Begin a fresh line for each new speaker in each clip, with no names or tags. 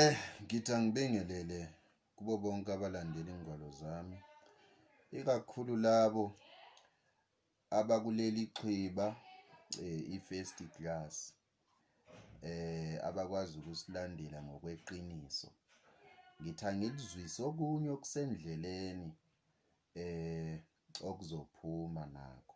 Eh, ngithi angibingelele kubo bonke abalandela ingwalo zami, ikakhulu labo abakuleli xhiba eh, i-first class eh abakwazi ukusilandela ngokweqiniso ngithi angilizwise okunye okusendleleni eh okuzophuma nako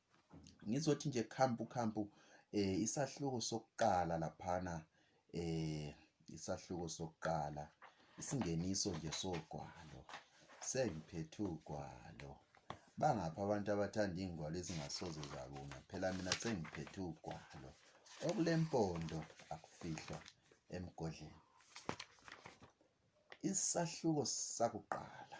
ngizothi nje khampu khampu eh isahluko sokuqala laphana eh isahluko sokuqala isingeniso nje sogwalo sengiphethe ugwalo bangapha abantu abathanda ingwalo ezingasoze zabona phela mina sengiphethe ugwalo okulempondo akufihlwa emgodleni isahluko sakuqala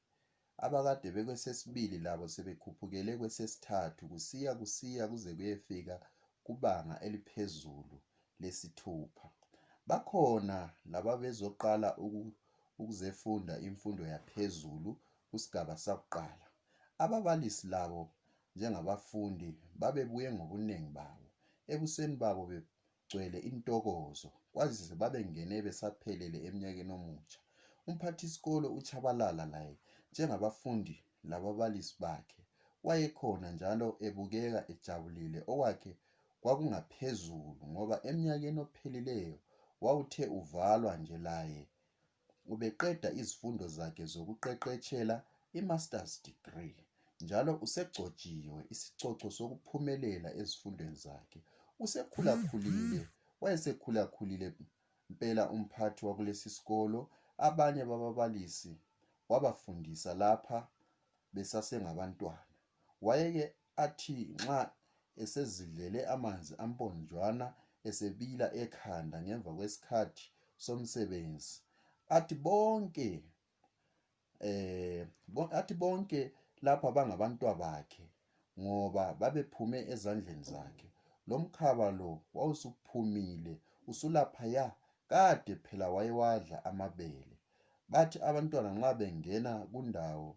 Abakade bekwesesibili labo sebekhuphukele kwesesithathu kusiya kusiya kuze kuyefika kubanga eliphezulu lesithupha. Bakhona lababezoqala ukuzefunda imfundo yaphezulu kusigaba sakuqala. Ababalisi labo njengabafundi babebuye ngobuningi babo. Ebusweni babo gcwele intokozo kwazise babengene besaphelele emnyakeni omutsha. Umphathisikolo uTshabalala laye njengabafundi lababalisi bakhe wayekhona njalo ebukeka ejabulile okwakhe kwakungaphezulu ngoba emnyakeni ophelileyo wawuthe uvalwa nje laye ubeqeda izifundo zakhe zokuqeqetshela i-Masters Degree njalo usegcotshiwe isicoco sokuphumelela ezifundweni zakhe. Usekhulakhulile, wayesekhulakhulile mpela umphathi wakulesi sikolo, abanye bababalisi wabafundisa lapha besasengabantwana. Wayeke athi nxa esezidlele amanzi amponjwana esebila ekhanda ngemva kwesikhathi somsebenzi athi bonke eh athi bonke lapha bangabantwa bakhe ngoba babephume ezandleni zakhe lo mkhaba lo wawusuphumile usulaphaya kade phela wayewadla amabele bathi abantwana nxa bengena kundawo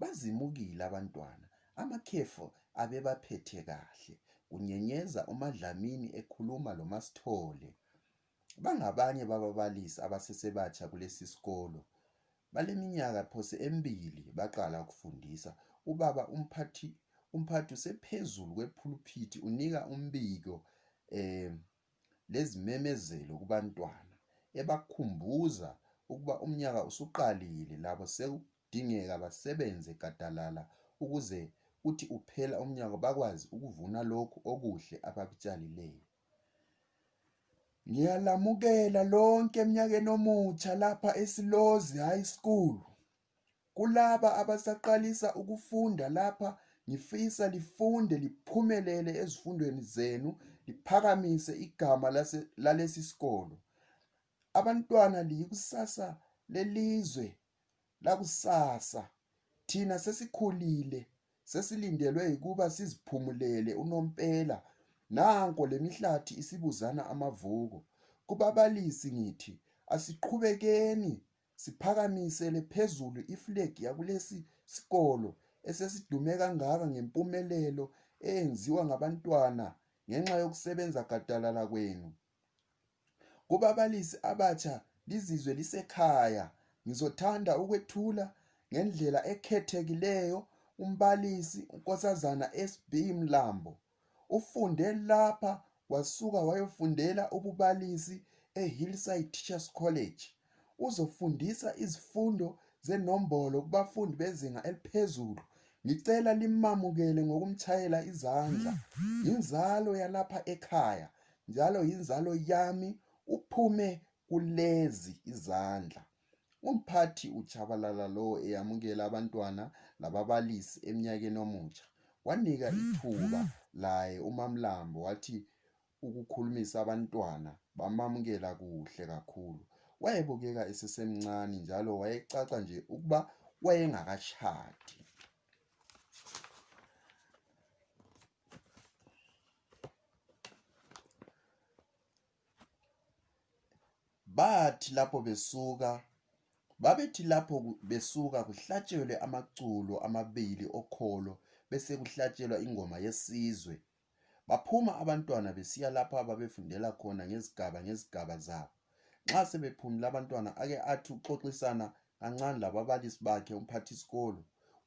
Bazimukile abantwana, amakhefu abebaphethe kahle, kunyenyeza uMaDlamini ekhuluma loMaSithole. Bangabanye bababalisi abasesebatsha kulesi sikolo. Baleminyaka phose emibili baqala ukufundisa. Ubaba umphathi umphathi usephezulu kwephuluphithi unika umbiko um lezimemezelo kubantwana ebakhumbuza ukuba umnyaka usuqalile labo Kudingeka basebenze gadalala ukuze uthi uphela umnyaka bakwazi ukuvuna lokhu okuhle abakutshalileyo. Ngiyalamukela lonke emnyakeni omutsha lapha eSilozi High School. Kulaba abasaqalisa ukufunda lapha ngifisa lifunde liphumelele ezifundweni zenu liphakamise igama lalesi sikolo. Abantwana liyikusasa lelizwe lakusasa thina sesikhulile sesilindelwe yikuba siziphumulele unompela nanko lemihlathi isibuzana amavuko kubabalisi ngithi asiqhubekeni siphakamisele phezulu iflegi yakulesi sikolo esesidume kangaka ngempumelelo eyenziwa ngabantwana ngenxa yokusebenza gadalala kwenu Kubabalisi abatsha lizizwe lisekhaya ngizothanda ukwethula ngendlela ekhethekileyo umbalisi uNkosazana SB Mlambo ufunde lapha wasuka wayofundela ububalisi eHillside Teachers College uzofundisa izifundo zenombolo kubafundi bezinga eliphezulu. Ngicela limamukele ngokumshayela izandla. Yinzalo yalapha ekhaya njalo yinzalo yami uphume kulezi izandla. Umphathi uJabalala lo eyamukela abantwana lababalisi emnyakeni omutsha wanika ithuba laye uMamlambo wathi ukukhulumisa abantwana bamamukela kuhle kakhulu. Wayebukeka esesemncane njalo wayecaca nje ukuba wayengakashadi. Bathi lapho besuka babethi lapho besuka kuhlatshelwe amaculo amabili okholo bese kuhlatshelwa ingoma yesizwe Baphuma abantwana besiya lapho ababefundela khona ngezigaba ngezigaba zabo. Nxa sebephumile abantwana ake athi uxoxisana kancane lababalisi bakhe umphathisikolo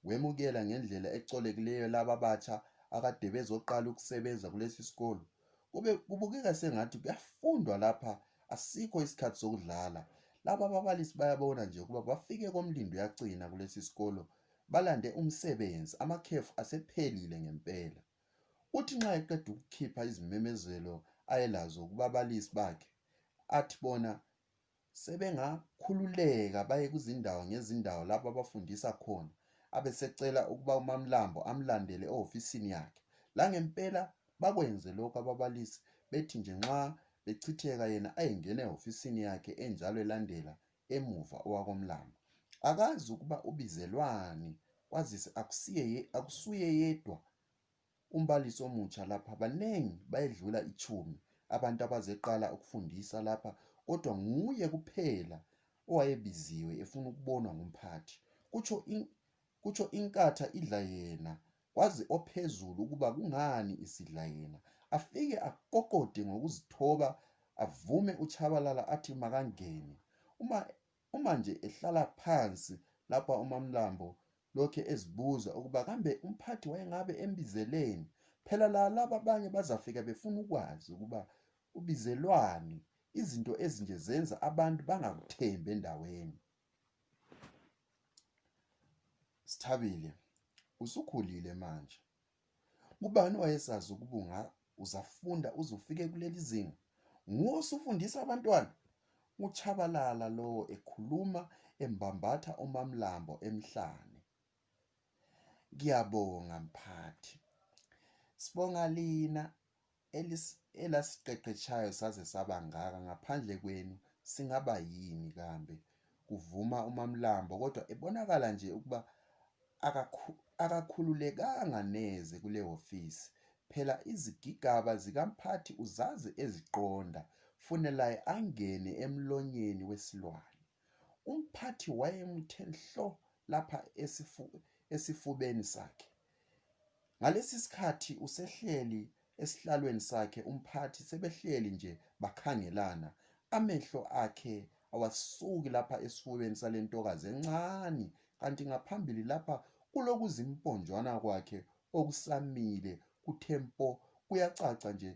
wemukela ngendlela ecolekileyo laba batsha akade bezoqala ukusebenza kulesi sikolo. Kube kubukeka sengathi kuyafundwa lapha asikho isikhathi sokudlala. Laba ababalisi bayabona nje ukuba bafike komlindo yacina kulesi sikolo balande umsebenzi amakhefu asephelile ngempela. Uthi nxa eqeda ukukhipha izimemezelo ayelazo kubabalisi bakhe athi bona sebengakhululeka baye kuzindawo ngezindawo lapho abafundisa khona abesecela ukuba uMamlambo amlandele ehofisini yakhe langempela bakwenze lokho ababalisi bethi nje nxa bechitheka yena ayengena ehofisini yakhe enjalo elandela emuva owakoMlambo. Akazi ukuba ubizelwani kwazise akusiye akusuye yedwa umbalisi omutsha lapha baningi bayedlula ichumi abantu abazeqala ukufundisa lapha kodwa nguye kuphela owayebiziwe efuna ukubonwa ngumphathi kutsho in, kutsho inkatha idla yena Kwazi ophezulu ukuba kungani isidla yena. Afike akokode ngokuzithoba avume uChabalala athi makangene. Uma uma nje ehlala phansi lapha uMamlambo lokhe ezibuza ukuba kambe umphathi wayengabe embizeleni. Phela la laba abanye bazafika befuna ukwazi ukuba ubizelwani. Izinto ezinje zenza abantu bangakuthembi endaweni. Sithabile, usukhulile manje. Kubani wayesazi ukubunga uzafunda uzufike kuleli zinga? Nguwe usufundisa abantwana? Uchabalala lowo ekhuluma embambatha uMamlambo emhlane. Ngiyabonga mphathi. Sibonga lina elasiqeqetshayo saze sabangaka ngaphandle kwenu singaba yini kambe kuvuma umamlambo kodwa ebonakala nje ukuba akakhululekanga neze kule hofisi phela izigigaba zikamphathi uzazi eziqonda funelaye angene emlonyeni wesilwane umphathi wayemuthe nhlo lapha esifubeni sakhe Ngalesi sikhathi usehleli esihlalweni sakhe umphathi sebehleli nje bakhangelana amehlo akhe awasuki lapha esifubeni sale ntokazi encane kanti ngaphambili lapha kulokuzimponjwana kwakhe okusamile kuthe mpo kuyacaca nje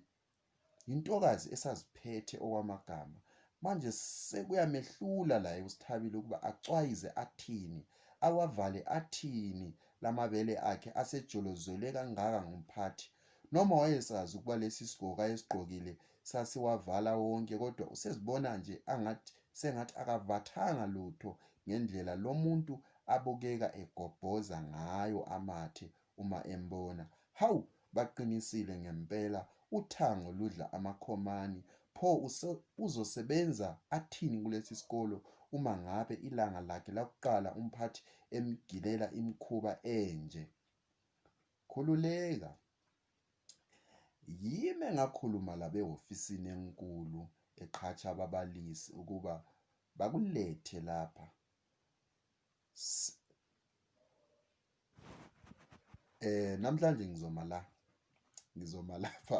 Yintokazi esaziphethe okwamagama. Manje sekuyamehlula la uSithabile ukuba acwayize athini, awavale athini lamabele akhe asejolozwele kangaka ngumphathi. Noma wayesazi ukuba lesi sigqoko ayesigqokile sasiwavala wonke kodwa usezibona nje angathi sengathi akavathanga lutho ngendlela lomuntu abukeka egobhoza ngayo amathe uma embona. Hawu, baqinisile ngempela, uthango ludla amakhomani. Pho use- uzosebenza athini kulesi sikolo uma ngabe ilanga lakhe lakuqala umphathi emgilela imikhuba enje? Khululeka. Yime ngakhuluma labehofisini enkulu eqhatsha ababalisi ukuba bakulethe lapha. Eh namhlanje ngizoma la. Ngizoma lapha.